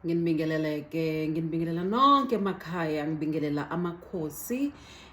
nginibingeleleke nginibingelela nonke emakhaya ngibingelela amakhosi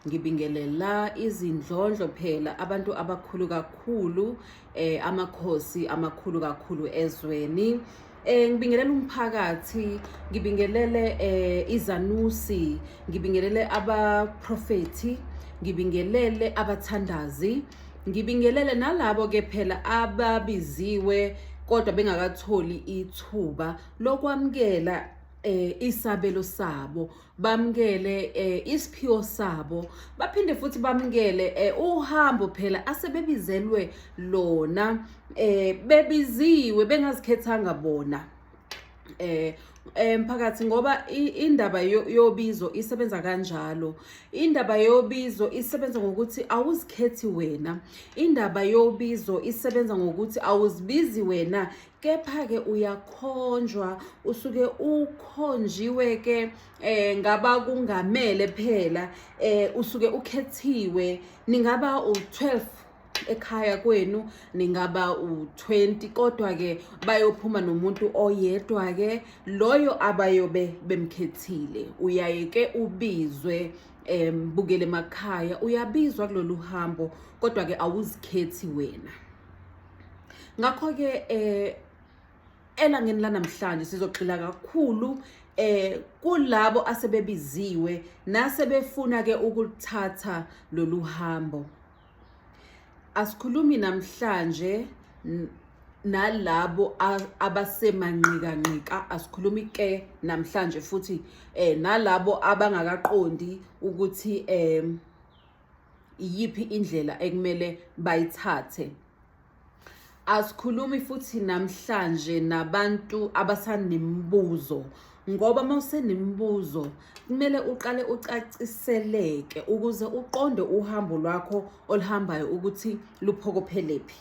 ngibingelela izindlondlo phela abantu abakhulu kakhulu eh amakhosi amakhulu kakhulu ezweni eh ngibingelele umphakathi ngibingelele eh izanusi ngibingelele abaprofeti ngibingelele abathandazi Ngibingelele nalabo ke phela ababiziwe kodwa bengakatholi ithuba lokwamukela eh isabelo sabo bamkele eh isiphiwo sabo baphinde futhi bamkele eh uhambo phela asebebizelwe lona eh bebiziwe bengazikhethanga bona eh emphakathi eh, ngoba indaba yobizo isebenza kanjalo indaba yobizo isebenza ngokuthi awuzikhethi wena indaba yobizo isebenza ngokuthi awuzibizi wena kepha-ke uyakhonjwa usuke ukhonjiwe-ke um eh, ngabakungamele phela um usuke ukhethiwe ningaba u-12 ekhaya kwenu ningaba u-20 kodwa-ke bayophuma nomuntu oyedwa-ke loyo abayobe bemkhethile uyaye ke ubizwe um bukele emakhaya uyabizwa kulolu hambo kodwa-ke awuzikhethi wena ngakho-ke um elangeni lanamhlanje sizogxila kakhulu eh kulabo asebebiziwe nasebefuna ke ukuthatha lolu hambo Asikhulumi namhlanje nalabo abasemanqikanqika asikhulumi ke namhlanje futhi eh nalabo abangakaqondi ukuthi eh iyiphi indlela ekumele bayithathe asikhulumi futhi namhlanje nabantu abasanemibuzo ngoba uma usenemibuzo kumele uqale ucaciseleke ukuze uqonde uhambo lwakho oluhambayo ukuthi luphokophelephi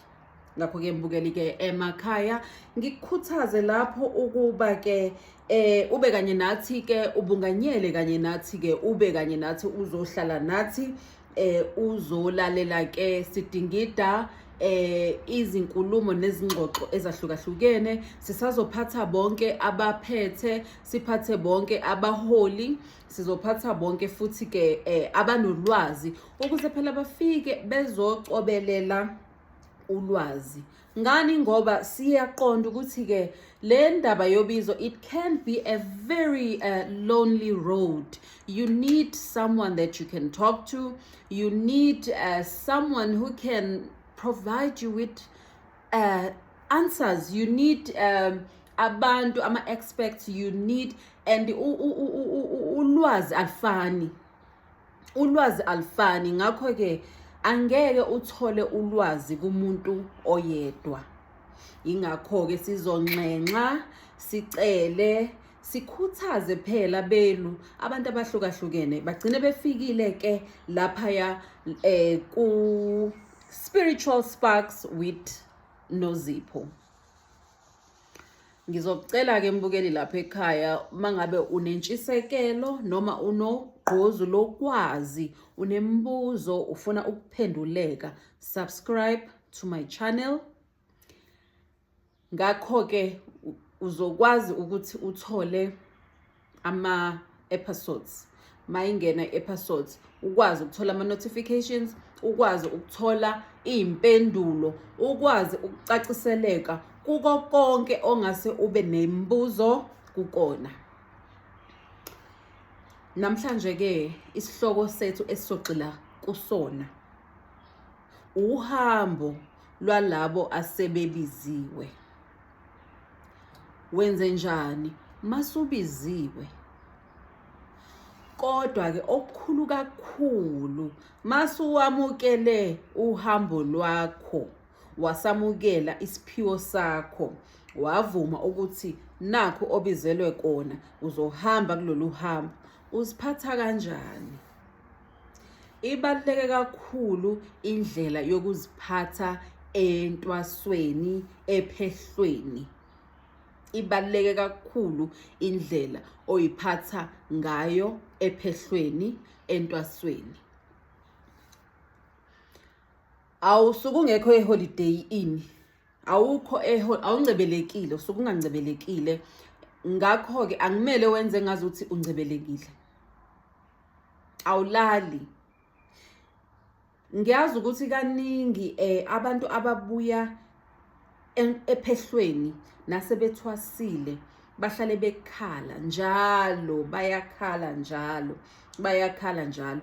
ngakho-ke mbukelike emakhaya ngikukhuthaze lapho ukuba-ke eh ube kanye nathi ke ubunganyele kanye nathi ke ube kanye nathi uzohlala nathi eh uzolalela ke sidingida eh izinkulumo nezingxoxo ezahlukahlukene sisazophatha bonke abaphethe siphathe bonke abaholi sizophatha bonke futhi ke eh, abanolwazi ukuze phela bafike bezocobelela ulwazi ngani ngoba siyaqonda ukuthi ke le ndaba yobizo it can be a very uh, lonely road you need someone that you can talk to you need uh, someone who can provide you with uh, answers you need um, abantu ama-experts you need and ulwazi alifani ulwazi alifani ngakho-ke angeke uthole ulwazi kumuntu oyedwa yingakho-ke sizonxenxa sicele sikhuthaze phela belu abantu abahlukahlukene bagcine befikile ke laphaya eh ku spiritual sparks with nozipho Ngizocela ke mbukeli lapha ekhaya mangabe unentshisekelo noma unogqozu lokwazi unemibuzo ufuna ukuphenduleka subscribe to my channel ngakho ke uzokwazi ukuthi uthole ama episodes mayingena i-episodes ukwazi ukuthola ama-notifications ukwazi ukuthola iy'mpendulo ukwazi ukucaciseleka kuko konke ongase ube nemibuzo kukona namhlanje-ke isihloko sethu esizogxila kusona uhambo lwalabo asebebiziwe wenze njani masubiziwe kodwa ke okukhulu kakhulu masuwamukele uhambo lwakho wasamukela isiphiwo sakho wavuma ukuthi nakho obizelwe kona uzohamba kulolu hambo uziphatha kanjani Ibaluleke kakhulu indlela yokuziphatha entwasweni ephehlweni. Ibaluleke kakhulu indlela oyiphatha ngayo ephehlweni entwasweni. Awusuke ungekho eholiday ini awukho awuncebelekile usuke ungancebelekile ngakho-ke akumele wenze ngazi ukuthi uncebelekile awulali ngiyazi ukuthi kaningi eh abantu ababuya ephehlweni nasebethwasile bahlale bekhala njalo bayakhala njalo bayakhala njalo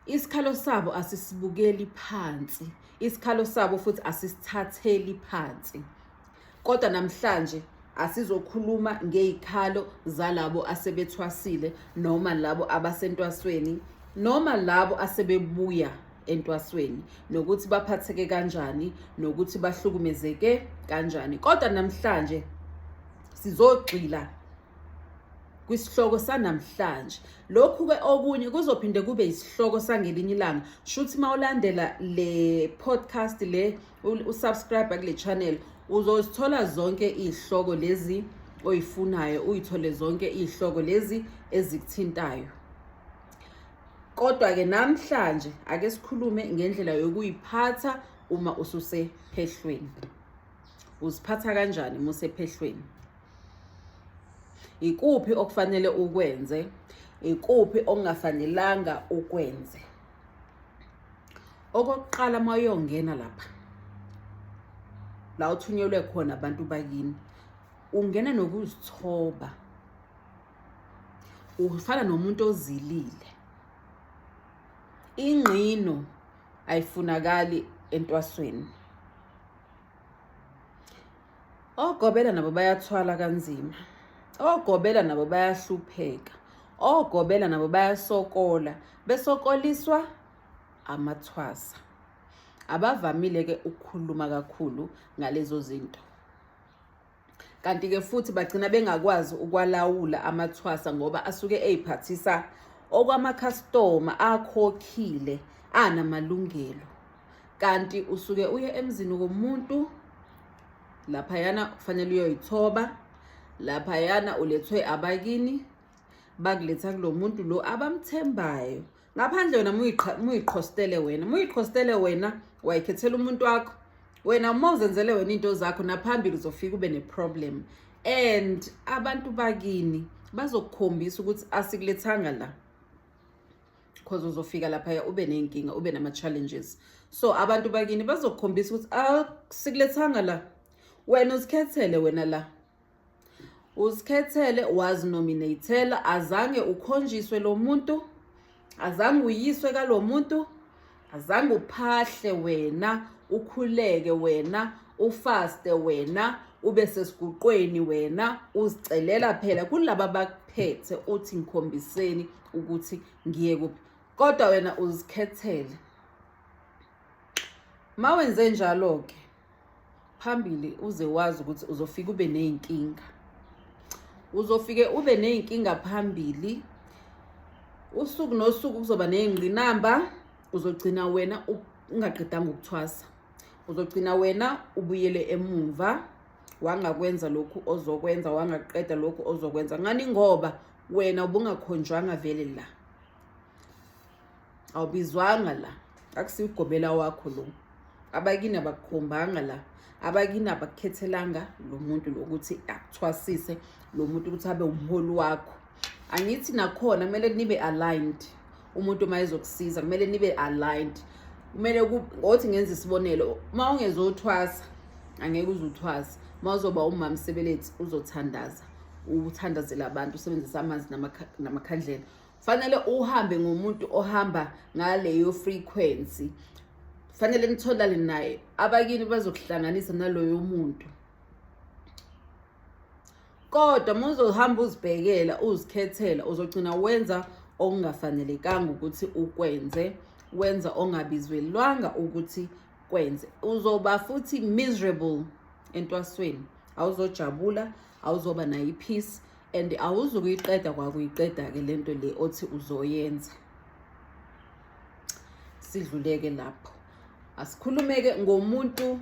isikhalo sabo asisibukeli phansi isikhalo sabo futhi asisithatheli phansi Kodwa namhlanje asizokhuluma ngey'khalo zalabo asebethwasile noma labo abasentwasweni noma labo asebebuya entwasweni nokuthi baphatheke kanjani nokuthi bahlukumezeke kanjani kodwa namhlanje sizogxila kwisihloko sanamhlanje lokhu ke okunye kuzophinde kube isihloko sangelinye ilanga shuthi mawulandela le podcast le usubscribe kule channel uzozithola zonke izihloko lezi oyifunayo uyithole zonke izihloko lezi ezikuthintayo kodwa-ke namhlanje ake sikhulume ngendlela yokuyiphatha uma ususephehlweni uziphatha kanjani uma usephehlweni ikuphi okufanele ukwenze ikuphi okungafanelanga ukwenze okokuqala uma uyongena lapha la uthunyelwe khona abantu bakini ungena nokuzithoba ufana nomuntu ozilile ingqino ayifunakali entwasweni Ogobela nabo bayathwala kanzima. Ogobela nabo bayahlupheka. Ogobela nabo bayasokola, besokoliswa amathwasa. Abavamile ke ukukhuluma kakhulu ngalezo zinto. Kanti ke futhi bagcina bengakwazi ukwalawula amathwasa ngoba asuke eyiphathisa okwamakhastoma akhokhile anamalungelo kanti usuke uye emzini komuntu laphayana kufanele uyoyithoba laphayana ulethwe abakini bakuletha kulo muntu lo abamthembayo ngaphandle wena muyiqhostele wena muyiqhostele wena wayikhethela umuntu wakho wena uma uzenzele wena into zakho naphambili uzofika ube neproblem and abantu bakini bazokukhombisa ukuthi asikulethanga la because uzofika laphaya ube ney'nkinga ube nama-challenges so abantu bakini bazokukhombisa ukuthi asikulethanga ah, la wena uzikhethele wena la uzikhethele wazinominatela azange ukhonjiswe lo muntu azange uyiswe kalo muntu azange uphahle wena ukhuleke wena ufaste wena ube sesiguqweni wena uzicelela phela kulaba bakuphethe uthi ngikhombiseni ukuthi ngiye kuphi kodwa wena uzikhethele mawenze njalo ke phambili uze wazi ukuthi uzofika ube ney'nkinga uzofike ube ney'nkinga phambili usuku nosuku kuzoba ney'ngqinamba uzogcina wena ungaqedanga ukuthwasa uzogcina wena ubuyele emumva wangakwenza lokhu ozokwenza wangaqeda lokhu ozokwenza ngani ngoba wena ubungakhonjwanga vele la awubizwanga la akusiwugobela wakho lo abakini abakukhombanga la abakini abakukhethelanga lo muntu lokuthi akuthwasise lo muntu ukuthi abe umholi wakho angithi nakhona kumele nibe aligned umuntu uma ezokusiza kumele nibe aligned kumele ngothi ngenza isibonelo uma ungezothwasa angeke uzuthwasa uma uzoba umama sebelethi uzothandaza uthandazela abantu usebenzisa amanzi namakhandlela fanele uhambe ngomuntu ohamba ngaleyo frequency fanele nitholane naye abakini bazokuhlanganisa naloyo muntu kodwa muzohamba uzibhekela uzikhethela uzogcina wenza okungafanelekanga ukuthi ukwenze wenza ongabizwelwanga ukuthi kwenze uzoba futhi miserable entwasweni awuzojabula awuzoba nayo ipeace and awuzukuyiqeda kwakuyiqeda-ke le nto le othi uzoyenza sidluleke lapho asikhulumeke ngomuntu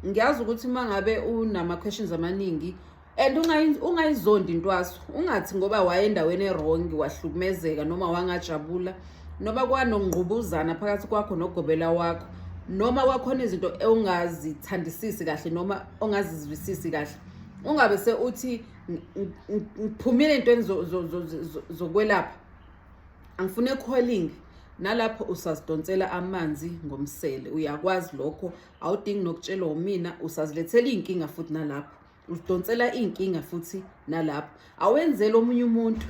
ngiyazi ukuthi uma ngabe unama-questions amaningi and ungayizondi intwaso ungathi ngoba wayendaweni erongi wahlukumezeka noma wangajabula noma kwanongqubuzana phakathi kwakho nogobela wakho noma kwakhona izinto ongazithandisisi kahle noma ongazizwisisi kahle ungabe seuthi ngiphumile entweni zokwelapha angifune calling nalapho usazidonsela amanzi ngomsele uyakwazi lokho awudingi nokutshelwa umina usazilethela iy'nkinga futhi nalapho uzidonsela iy'nkinga futhi nalapho awenzeli omunye umuntu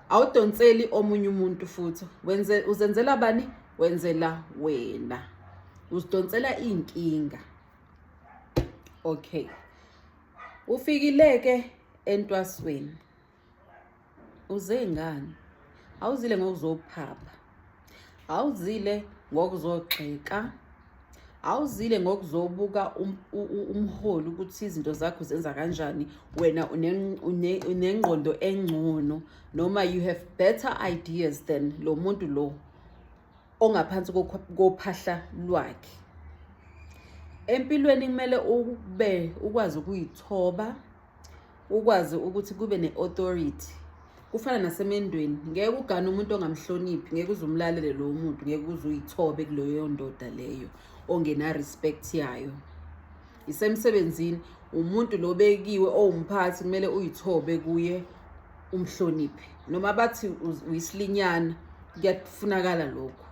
awudonseli omunye umuntu futhi wenze uzenzela bani wenzela wena uzidonsela iy'nkinga okay ufikileke entwasweni uze ngani awuzile ngokuzophapha awuzile ngokuzogxeka awuzile ngokuzobuka um-, umholi ukuthi izinto zakho zenza kanjani wena unengqondo engcono noma you have better ideas than lo muntu lo ongaphansi kophahla lwakhe empilweni kumele ube ukwazi ukuyithoba ukwazi ukuthi kube ne-authority kufana nasemendweni ngeke ugane umuntu ongamhloniphi ngeke uze umlalele lowo muntu ngeke uze uyithobe kuleyo ndoda leyo ongena-respect yayo isemsebenzini umuntu lobekiwe owumphathi kumele uyithobe kuye umhloniphe noma bathi uyisilinyana kuyafunakala lokho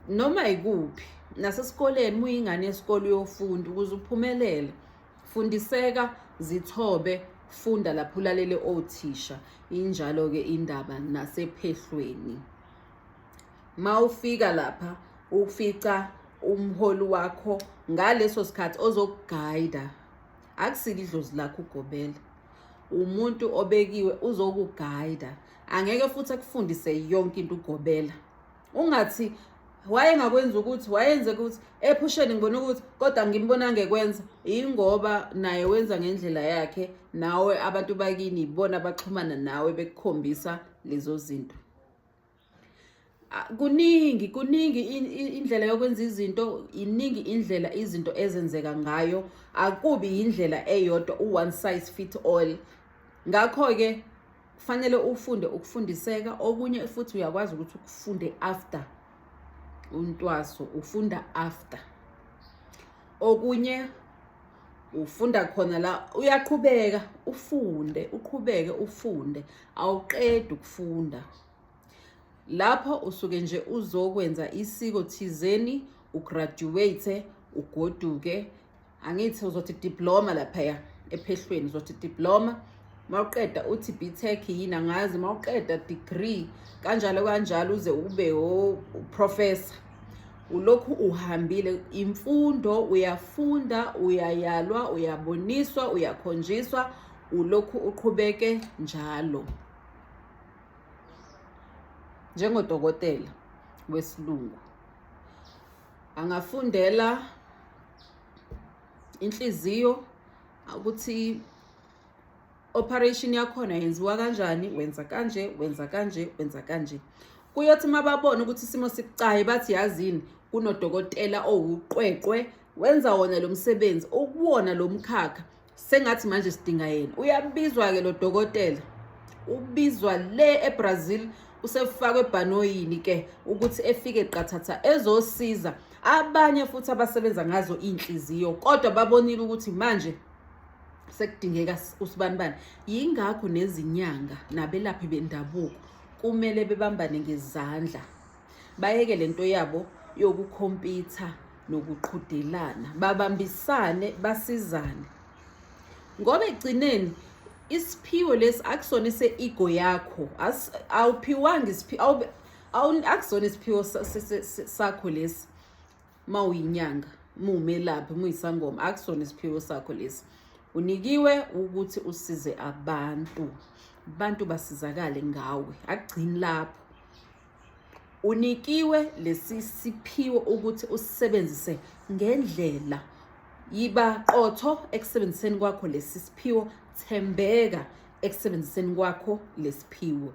noma ikuphi nasesikoleni muyingane yesikole uyofunda ukuze uphumelele fundiseka zithobe funda lapho ulalele othisha injalo-ke indaba nasephehlweni mawufika lapha ufica umholi wakho ngaleso sikhathi ozokugayida akusile idlozi lakho ugobela umuntu obekiwe uzokugayida angeke futhi akufundise yonke into ugobela ungathi wayengakwenza ukuthi wayenze ukuthi ephusheni ngibona ukuthi kodwa ngimbona ngekwenza ingoba naye wenza ngendlela yakhe nawe abantu bakini ibona baxhumana nawe bekukhombisa lezo zinto kuningi kuningi indlela yokwenza izinto iningi indlela izinto ezenzeka ngayo akubi yindlela eyodwa u-one size fit all ngakho-ke kufanele ufunde ukufundiseka okunye futhi uyakwazi ukuthi ukufunde after untwaso ufunda after okunye ufunda khona la uyaqhubeka ufunde uqhubeke ufunde awuqedi ukufunda lapho usuke nje uzokwenza isiko thizeni ugraduate ugoduke angithi uzothi diploma laphaya ephehlweni uzothi diploma mawuqeda uthi btech yini angazi mawuqeda degree kanjalo kanjalo uze ube uprofessor ulokhu uhambile imfundo uyafunda uyayalwa uyaboniswa uyakhonjiswa ulokhu uqhubeke njalo njengodokotela wesilungu angafundela inhliziyo ukuthi operation yakhona yenziwa kanjani wenza kanje wenza kanje wenza kanje kuyothi uma babona ukuthi isimo sibucayi bathi yazini kunodokotela owuqweqwe wenza wona lo msebenzi ukuwona lo mkhakha sengathi manje sidinga yena uyabizwa-ke lo dokotela ubizwa le ebrazil usefakwe ebhanoyini ke ukuthi efike qathatha ezosiza abanye futhi abasebenza ngazo iy'nhliziyo kodwa babonile ukuthi manje sekudingeka usibanibani yingakho nezinyanga nabelaphi bendabuko kumele bebambane ngezandla bayeke le nto yabo yokukhompitha nokuqhudelana babambisane basizane ngoba egcineni isiphiwo lesi akusona ise-ego yakho awuphiwanga isiphiwo akusona isiphiwo sakho lesi uma uyinyanga muwumelaphi muyisangoma akusona isiphiwo sakho lesi unikiwe ukuthi usize abantu abantu basizakale ngawe akugcini lapho unikiwe lesi siphiwo ukuthi usisebenzise ngendlela yiba qotho ekusebenziseni kwakho lesi siphiwo thembeka ekusebenziseni kwakho lesiphiwo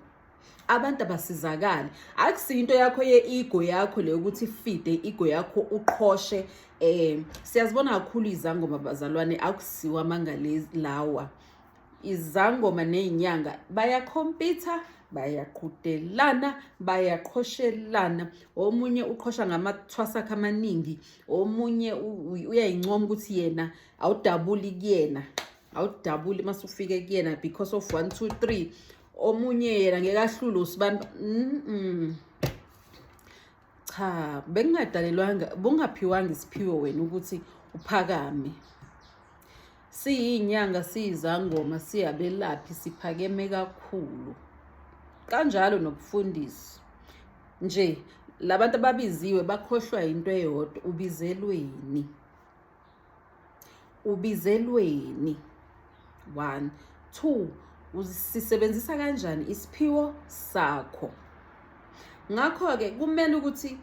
abantu abasizakali akusiyo into yakho ye-ego yakho le ukuthi ifide i-ego yakho uqhoshe um siyazibona kakhulu izangoma bazalwane akusiwo amanga lawa izangoma ney'nyanga bayakhompitha bayaqhudelana bayaqhoshelana omunye uqhosha ngamathwasa akhe amaningi omunye uyayincoma ukuthi yena awudabuli kuyena awudabuli uma sufike kuyena because of one two three omunye yena ngeke ahlule usibani mm -mm. cha bekungadalelwanga bungaphiwanga isiphiwo wena ukuthi uphakame siyinyanga siyizangoma siyabelaphi siphakeme kakhulu kanjalo nokufundisa nje labantu ababiziwe bakhohlwa into eyodwa ubizelweni ubizelweni one two usisebenzisa kanjani isiphiwo sakho ngakho-ke kumele ukuthi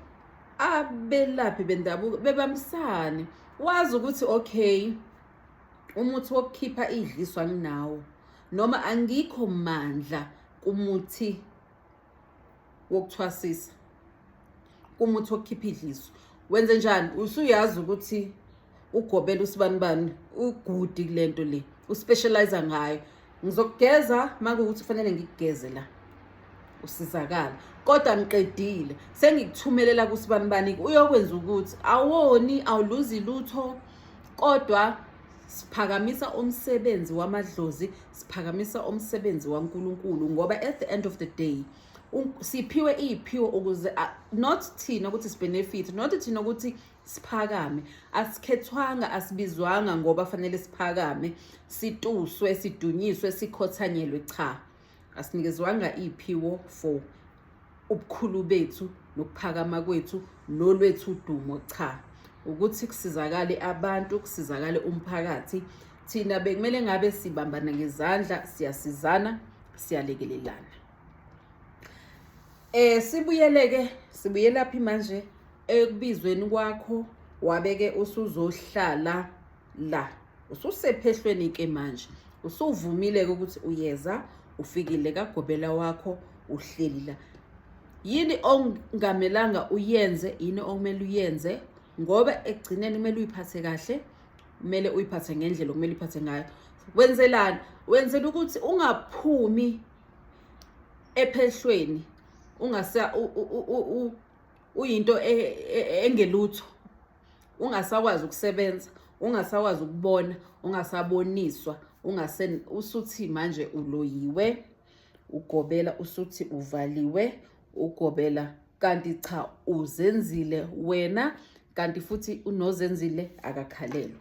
abelaphi bendabuko bebambisane wazi ukuthi okay umuthi wokukhipha idliswa nginawo noma angikho mandla kumuthi wokuthwasisa kumuthi okhipha idliso wenze njani usuyazi ukuthi ugobela usibanibani ugudi kule nto le uspecialize ngayo ngizokugeza makuwukuthi kufanele ngikugeze la usizakala kodwa ngiqedile sengikuthumelela kusibanibani uyokwenza ukuthi awoni awuluzi lutho kodwa siphakamisa umsebenzi wamadlozi siphakamisa umsebenzi waNkulunkulu ngoba at the end of the day siphiwe iyiphiwo ukuze not thina ukuthi sibenefit not thina ukuthi siphakame asikhethwanga asibizwanga ngoba fanele siphakame situswe sidunyiswe sikhothanyelwe cha asinikezwanga iyiphiwo for ubukhulu bethu nokuphakama kwethu nolwethu udumo cha ukuthi kusizakale abantu kusizakale umphakathi thina bekumele ngabe sibambana ngezandla siyasizana siyalekelelana eh sibuyeleke sibuyelaphi manje ekubizweni kwakho wabeke usuzohlala la ususephehlweni ke manje usuvumile ke ukuthi uyeza ufikile kagobela wakho uhleli la yini ongamelanga uyenze yini okumele uyenze ngoba ekugcineni kumele uyiphathe kahle kumele uyiphathe ngendlela okumele uyiphathe ngayo wenzelani wenzela ukuthi ungaphumi ephehlweni ungasa uyinto e, e, e, engelutho ungasakwazi ukusebenza ungasakwazi ukubona ungasaboniswa ungase usuthi manje uloyiwe ugobela usuthi uvaliwe ugobela kanti cha uzenzile wena kanti futhi unozenzile akakhalelwa